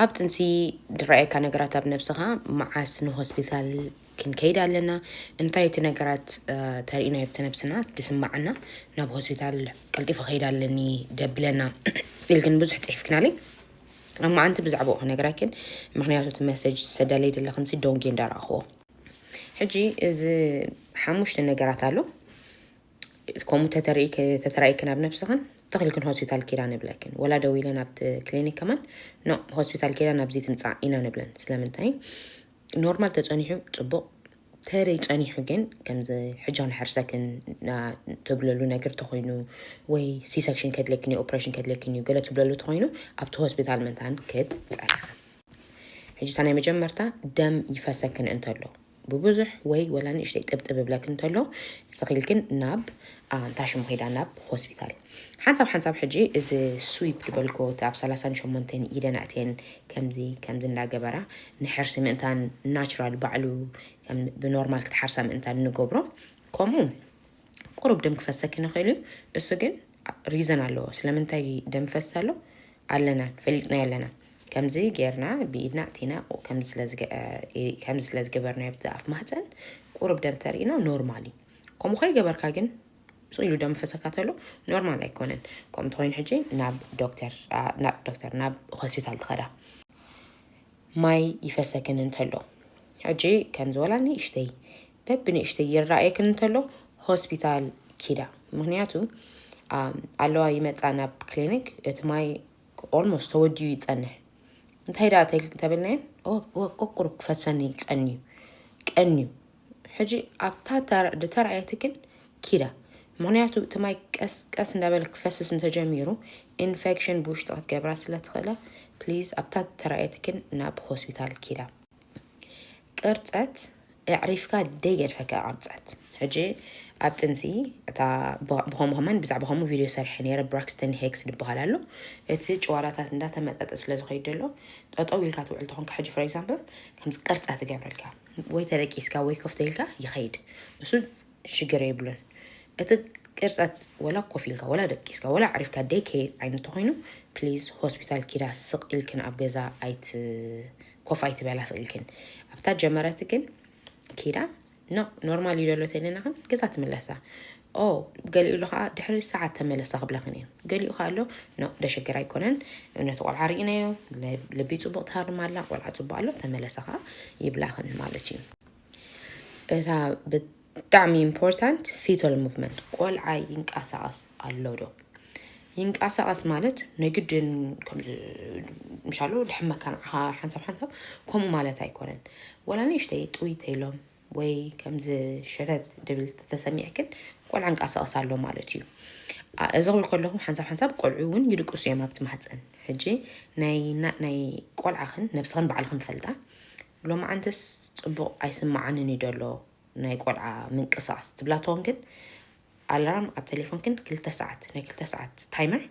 ኣብ ጥንሲ ድረኣየካ ነገራት ኣብ ነብስኻ መዓስ ንሆስፒታል ክንከይድ ኣለና እንታይ እቲ ነገራት ተርእና ኣብቲ ነብስና ድስማዓና ናብ ሆስፒታል ቀልጢፈ ከይድ ኣለኒ ደብለና ኢልክን ብዙሕ ፅሒፍክናለይ ኣብ መዓንቲ ብዛዕባኡ ክነግራኪን ምክንያቱ እቲ መሰጅ ዝሰዳለይ ዘለክንሲ ዶንጌ እንዳረኣኽዎ ሕጂ እዚ ሓሙሽተ ነገራት ኣሎ ከምኡ ተተራኢክን ኣብ ነብስኽን ተኽልክን ሆስፒታል ኪዳ ንብለክን ወላ ደው ኢለን ኣብቲ ክሊኒክ ከማን ኖ ሆስፒታል ኪዳ ናብዚ ትምፃእ ኢና ንብለን ስለምንታይ ኖርማል ተፀኒሑ ፅቡቕ ተረይ ጸኒሑ ግን ከምዚ ሕጃን ሕርሰክን ትብለሉ ነገር ተኮይኑ ወይ ሲሰክሽን ከድለክን እዩ ኦፕሬሽን ከድለክን እዩ ገለ ትብለሉ ተኮይኑ ኣብቲ ሆስፒታል መታን ክትፀንሐ ሕጂ እታ ናይ መጀመርታ ደም ይፈሰክን እንተሎ ብብዙሕ ወይ ወላ ንእሽተይ ጥብጥብ ይብለኪ እንተሎ ስተኺልክን ናብ ኣንታ ሽሙ ኺዳ ናብ ሆስፒታል ሓንሳብ ሓንሳብ ሕጂ እዚ ስዊፕ ድበልኮ እቲ ኣብ ሰላሳን ሸሞንተን ኢደን ኣእትየን ከምዚ ከምዚ እንዳገበራ ንሕርሲ ምእንታን ናቹራል ባዕሉ ከም ብኖርማል ክትሓርሳ ምእንታን ንገብሮ ከምኡ ቁሩብ ደም ክፈሰኪ ንኽእል እዩ እሱ ግን ሪዘን ኣለዎ ስለምንታይ ደም ፈስ ኣሎ ኣለና ፈሊጥናዮ ኣለና ከምዚ ጌርና ብኢድና እቲና ከምዚ ስለ ዝገበርናዮ ብቲ ኣፍ ማህፀን ቁሩብ ደም ተርእና ኖርማል እዩ ከምኡ ከይገበርካ ግን ስቕ ኢሉ ደም ፈሰካ ተሎ ኖርማል ኣይኮነን ከምኡ ተኮይኑ ሕጂ ናብ ዶክተር ናብ ዶክተር ናብ ሆስፒታል ትኸዳ ማይ ይፈሰክን እንተሎ ሕጂ ከምዚ ወላ ንእሽተይ በብንእሽተይ ይረኣየክን እንተሎ ሆስፒታል ኪዳ ምክንያቱ ኣለዋ ይመፃ ናብ ክሊኒክ እቲ ማይ ኦልሞስት ተወዲኡ ይፀንሕ እንታይ ደኣ ተብልናየን ቁቁር ክፈሰኒ ቀንዩ ቀንዩ ሕጂ ኣብታ ዝተራእየት ግን ኪዳ ምክንያቱ እቲ ማይ ቀስ ቀስ እንዳበለ ክፈስስ እንተጀሚሩ ኢንፌክሽን ብውሽጢ ክትገብራ ስለ ትኽእለ ፕሊዝ ኣብታ ዝተራእየት ግን ናብ ሆስፒታል ኪዳ ቅርጸት ኣዕሪፍካ ደይገድፈካ ቅርጸት ሕጂ ኣብ ጥንሲ እታ ብኸምኡ ከማን ብዛዕባ ከምኡ ቪድዮ ሰርሐ ነይረ ብራክስተን ሄክስ ዝበሃል ኣሎ እቲ ጨዋዳታት እንዳተመጠጠ ስለ ዝኸይድ ዘሎ ጠጠው ኢልካ ትውዕል ተኾንካ ሕጂ ፎር ኤግዛምፕል ከምዚ ቅርጸት ትገብረልካ ወይ ተደቂስካ ወይ ኮፍ ተኢልካ ይኸይድ እሱ ሽግር የብሉን እቲ ቅርፀት ወላ ኮፍ ኢልካ ወላ ደቂስካ ወላ ኣዕሪፍካ ደይ ከይድ ዓይነት ተኮይኑ ፕሊዝ ሆስፒታል ኪዳ ስቅ ኢልክን ኣብ ገዛ ኣይት ኮፍ ኣይትበላ ስቅ ኢልክን ኣብታ ጀመረት ግን ኪዳ ኖ ኖርማል ይደሎ ተለና ግን ገዛ ትምለሳ ኦው ገሊኡሉ ከኣ ድሕሪ ሰዓት ተመለሳ ክብላክን እየን ገሊኡ ከኣ ኣሎ ኖ ደሸገር ኣይኮነን እምነቲ ቆልዓ ርኢናዮ ልቢ ጽቡቅ ትሃርም ኣላ ቆልዓ ጽቡቅ ኣሎ ተመለሳ ከኣ ይብላክን ማለት እዩ እታ ብጣዕሚ ኢምፖርታንት ፊቶል ሙቭመንት ቆልዓ ይንቀሳቀስ ኣሎ ዶ ይንቀሳቀስ ማለት ናይ ግድን ከምዚ ምሻሉ ድሕመካ ንዓኻ ሓንሳብ ሓንሳብ ከምኡ ማለት ኣይኮነን ወላ ንእሽተይ ጥውይተ ኢሎም ወይ ከምዚ ሸተት ድብል ተሰሚዕክን ቆልዓ እንቃሳቐስ ኣሎ ማለት እዩ እዚ ክብል ከለኹ ሓንሳብ ሓንሳብ ቆልዑ እውን ይድቅሱ እዮም ኣብቲ ማህፀን ሕጂ ናይ ቆልዓኽን ነብስኽን ባዕልኽን ትፈልጣ ሎማዓንትስ ፅቡቕ ኣይስማዓንን እዩ ደሎ ናይ ቆልዓ ምንቅስቃስ ትብላ ትኾን ግን ኣላራም ኣብ ቴሌፎንክን ክልተ ሰዓት ናይ ክልተ ሰዓት ታይመር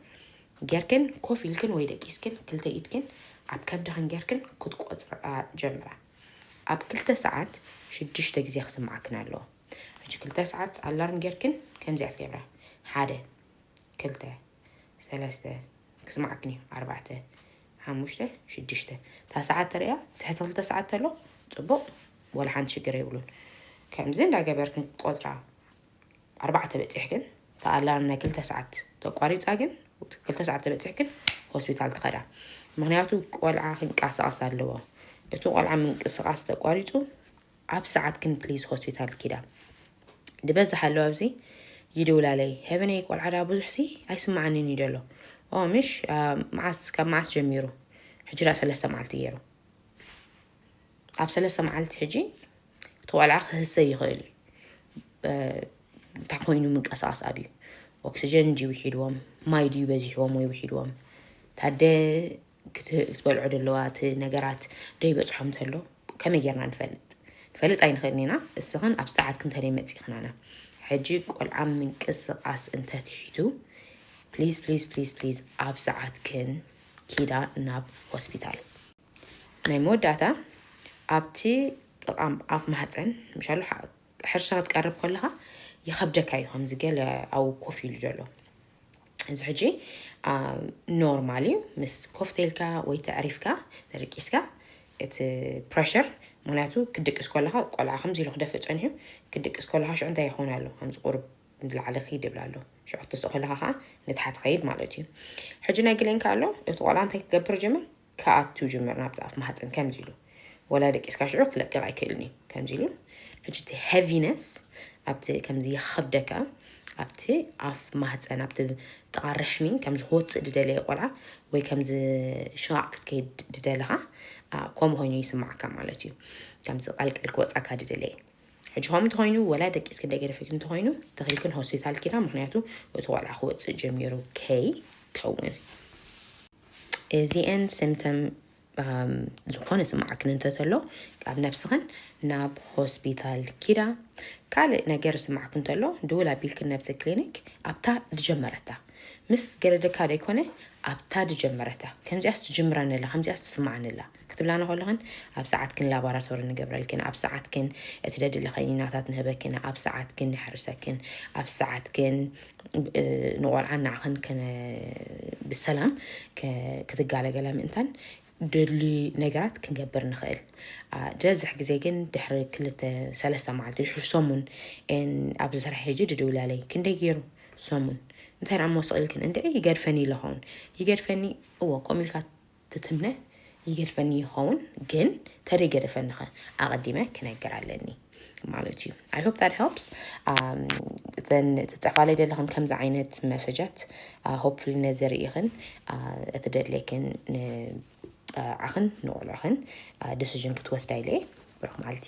ጌርክን ኮፍ ኢልክን ወይ ደቂስክን ክልተ ኢድክን ኣብ ከብድኽን ጌርክን ክትቆፅራ ጀምራ ኣብ ክልተ ሰዓት ሽዱሽተ ግዜ ክስምዓክን ኣለዎ ሕጂ ክልተ ሰዓት ኣላርም ጌርክን ከምዚ ኢያ ትገብራ ሓደ ክልተ ሰለስተ ክስምዓክን ኢዩ ኣርባዕተ ሓሙሽተ ሽዱሽተ እታ ሰዓት ተርእያ ትሕቲ ክልተ ሰዓት ተሎ ጽቡቕ ወላ ሓንቲ ሽግር የብሉን ከምዚ እንዳገበርክን ቆጽራ ኣርባዕተ በጺሕክን እታ ኣላርም ናይ ክልተ ሰዓት ተቋሪጻ ግን ክልተ ሰዓት ተበጺሕክን ሆስፒታል ትኸዳ ምክንያቱ ቆልዓ ክንቀሳቀስ ኣለዎ እቲ ቆልዓ ምንቅስቃስ ተቋሪጹ ኣብ ሰዓት ክን ፕሊዝ ሆስፒታል ኪዳ ድበዝሕ ኣለዋ ኣብዚ ይድውላለይ ሄቨነይ ቆልዓ ዳ ብዙሕ ሲ ኣይስማዓንን እዩ ደሎ ኦ ምሽ መዓስ ካብ መዓስ ጀሚሩ ሕጂ ዳ ሰለስተ መዓልቲ ገይሩ ኣብ ሰለስተ መዓልቲ ሕጂ እቲ ቆልዓ ክህሰ ይኽእል እዩ እንታይ ኮይኑ ምንቀሳቐስ ኣብዩ ኦክሲጀን እንጂ ውሒድዎም ማይ ድዩ በዚሕዎም ወይ ውሒድዎም ታደ ክትበልዖ ደለዋ እቲ ነገራት ደይበፅሖም ተሎ ከመይ ጌርና ንፈልጥ ንፈልጥ ኣይንኽእልን ኢና እስኽን ኣብ ሰዓት ክንተደይ መፂእኽናና ሕጂ ቆልዓ ምንቅስቓስ እንተትሒቱ ፕሊዝ ፕሊዝ ፕሊዝ ፕሊዝ ኣብ ሰዓትክን ኪዳ ናብ ሆስፒታል ናይ መወዳእታ ኣብቲ ጥቓ ኣፍ ማህፀን ምሻሉ ሕርሻ ክትቀርብ ከለኻ ይኸብደካ እዩ ከምዚ ገለ ኣብኡ ኮፍ ኢሉ ዘሎ እዚ ሕጂ ኖርማል እዩ ምስ ኮፍቴልካ ወይ ተዕሪፍካ ተደቂስካ እቲ ፕረሽር ምክንያቱ ክድቅስ ከለካ ቆልዓ ከምዚ ኢሉ ክደፍእ ፀኒሑ ክድቅስ ከለካ ሽዑ እንታይ ይኸውን ኣሎ ከምዚ ቁርብ ንላዕሊ ክይድ ይብል ኣሎ ሽዑ ክትስእ ከለካ ከዓ ንታሕቲ ከይድ ማለት እዩ ሕጂ ናይ ግሌንካ ኣሎ እቲ ቆልዓ እንታይ ክገብር ጀምር ክኣቱ ጅምር ናብቲ ኣፍ ማህጸን ከምዚ ኢሉ ወላ ደቂስካ ሽዑ ክለቅቅ ኣይክእልን እዩ ከምዚ ኢሉ ሕጂ እቲ ሄቪነስ ኣብቲ ከምዚ ይኸብደካ ኣብቲ ኣፍ ማህጸን ኣብቲ ጥቓ ርሕሚ ከምዚ ክወጽእ ድደለየ ቆልዓ ወይ ከምዚ ሽቓቕ ክትከይድ ድደለኻ ከምኡ ኮይኑ ይስምዓካ ማለት እዩ ከምዚ ቀልቀል ክወጻካ ድደለየ ሕጂ ከምኡ እንተኮይኑ ወላ ደቂስኪ እንደገደፈኪ እንተኮይኑ ተኺልክን ሆስፒታል ኪዳ ምክንያቱ እቲ ቆልዓ ክወጽእ ጀሚሩ ከይ ከውን እዚኤን ስምተም ዝኾነ ስማዓክን እንተተሎ ኣብ ነብስኽን ናብ ሆስፒታል ኪዳ ካልእ ነገር ስማዕክ እንተሎ ድውል ኣቢልክን ነብቲ ክሊኒክ ኣብታ ድጀመረታ ምስ ገደደካ ደይኮነ ኣብታ ድጀመረታ ከምዚኣስ ትጅምራነላ ከምዚኣስ ትስማዓነላ ክትብላና ከለኽን ኣብ ሰዓትክን ላባራቶሪ ንገብረልክን ኣብ ሰዓትክን እቲ ደድሊ ከኒናታት ንህበክን ኣብ ሰዓትክን ንሕርሰክን ኣብ ሰዓትክን ንቆልዓን ንዓኽን ከነ ብሰላም ክትጋለገላ ምእንታን ደድሊ ነገራት ክንገብር ንኽእል ዝበዝሕ ግዜ ግን ድሕሪ ክልተ ሰለስተ መዓልቲ ድሕሪ ሰሙን ኣብዚ ስራሕ ሄጂ ድድውላለይ ክንደይ ገይሩ ሰሙን እንታይ ደኣ እሞ ስቕልክን እንደ ይገድፈኒ ኢለኸውን ይገድፈኒ እዎ ከምኡ ኢልካ ትትምነ ይገድፈኒ ይኸውን ግን ተደይ ገደፈኒኸ ኣቐዲመ ክነገር ኣለኒ ማለት እዩ ኣይ ሆፕ ዳት ሄልፕስ እተን ትጻፋለይ ዘለኽን ከምዚ ዓይነት መሰጃት ሆፕፉሊ ነዚ ርኢኽን እቲ ደድለይክን ንዓኽን ንቆልዕኽን ዲሲዥን ክትወስዳ ኢለ ብሩኽ መዓልቲ